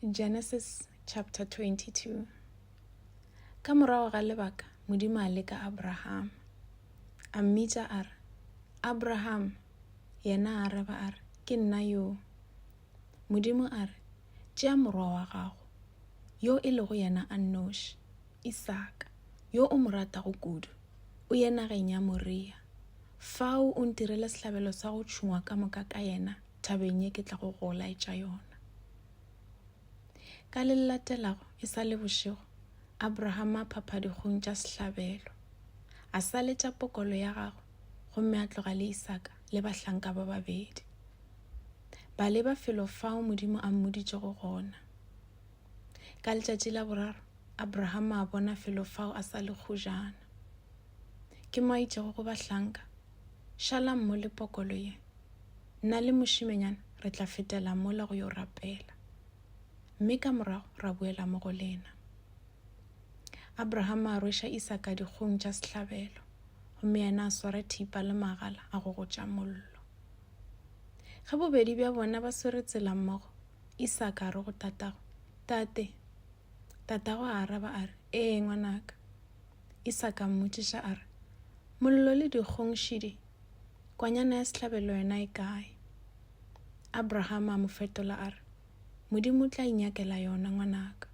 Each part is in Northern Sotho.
Genesis chapter 22 Ka morago ga lebaka Modimo a leka Abraham a mmitša a re Abraham yena a araba a re ke nna yo Modimo a re tšea morwa wa gago yo e lego yena a nnoši Isaka yo o mo ratago kudu o ye nageng ya Moria fao o ntirele sehlabelo sa go tšhungwa ka moka ka yena thabeng ye ke tlago go o laetša yona ka le latelago e sa le bošego abrahama a phapha dikgong tša sehlabelo a saletša pokolo ya gagwe gomme a tloga le isaka le bahlanka ba babedi ba leba felo fao modimo a mmoditšego gona ka letšatši la boraro abrahama a bona felo fao a sa le kgojana ke mo a itšego go bahlanka šalang mo le pokolo ye Nna le mošimenyana re tla fetela mola go yo rapela, mme ka morago ra boela mo go lena. Abrahama a rweša Isaka dikgong tša sehlabelo, gomme yena a swara thipa le magala a go gotša mollo. Ge bobedi bja bona ba swere tsela mmogo, Isaka a re go tatago, Tate! Tatago a araba a re, Ee, ngwanaka. Isaka a mmotšiša a re, Mollo le dikgong šidi Kwanyana ya sehlabelo yona e kae? Abraham a mo fetola a re, Modimo o tla inyakela yona, ngwanaka.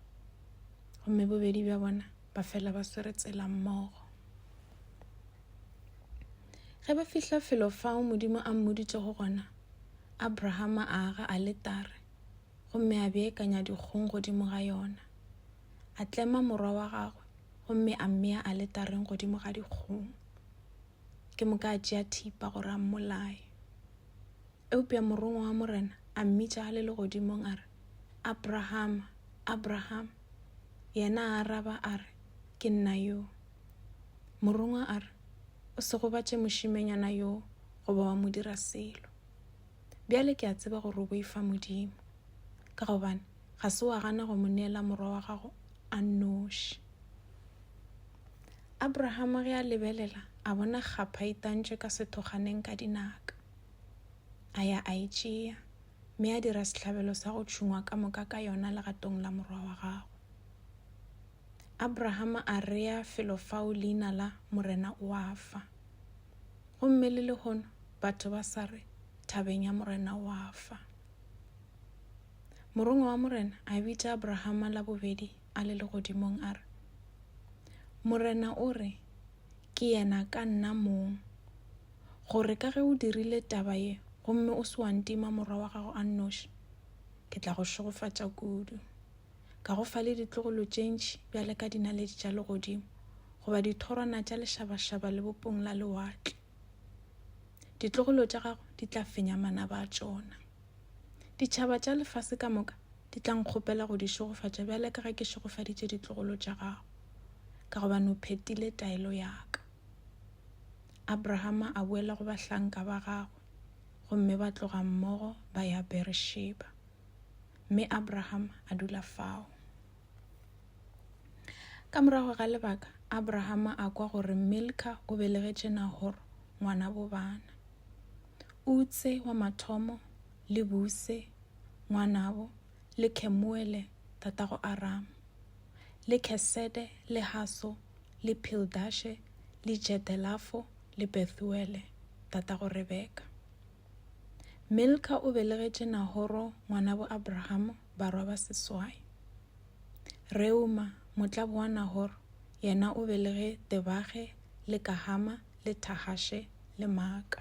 Gomme bobedi bja bona ba fela ba swere tsela mmogo. Ge ba fihla felo fao Modimo a mmoditše go gona, Abraham a aga a letare gomme a beekanya dikgong godimo ga yona. A tlema morwa wa gagwe gomme a mmea a letareng godimo ga dikgong. ke moka a tšea thipa gore a mmolaye eupša morongwa wa morena a mmitša a le legodimong a re abrahama abrahama yena a araba a re ke nna yo morongwa a re o se gobatše mošimenyana yo goba wa mo dira selo bjale ke a tseba gore o boifa modimo ka gobane ga se wa gana go mo neela morwa wa gago a nnoši Abrahama ge a lebelela, a bona kgapha e itantšwe ka sethoganeng ka dinaka. A ya a e tšea, mme a dira sehlabelo sa go tšhungwa ka moka ka yona legatong la morwa wa gagwe. Abrahama a rea felo fao leina la Morena o a fa. Gomme le lehono batho ba sa re, Thabeng ya Morena o a fa. Morongwa wa Morena a bitša Abrahama la bobedi a le legodimong a re, Morena o re, Ke yena ka nna mong, gore ka ge o dirile taba ye gomme o se wa ntima morwa wa gago a nnoši, ke tla go šegofatša kudu, ka go fa le ditlogolo tše ntši bjale ka dinaledi tša legodimo goba dithorwana tša lešabašaba lebopong la lewatle. Ditlogolo tša gago di tla fenya manaba a tšona. Ditšhaba tša lefase ka moka di tla nkgopela go di šegofatša bjale ka ge ke šegofaditše ditlogolo tša gago, ka gobane o phetile taelo ya ka. Abrahama a boela go bahlanka ba gagwe, gomme ba tloga mmogo ba ya Beresheba. Mme Abrahama a dula fao. Ka morago ga lebaka, Abrahama a kwa gore Milka o belegetše Nahor ngwana bobana. Utse wa mathomo le Buse ngwanabo le Kemuele tatago Arama le Kesede le Haso le Pildashe le Jedelafo le Bethuele tatago Rebeka. Milka o belegetše Nahoro ngwanabo Abraham barwa ba seswai. Reuma, motlabo wa Nahoro, yena o belege Tebage le Kahama le Tahashe le Maaka.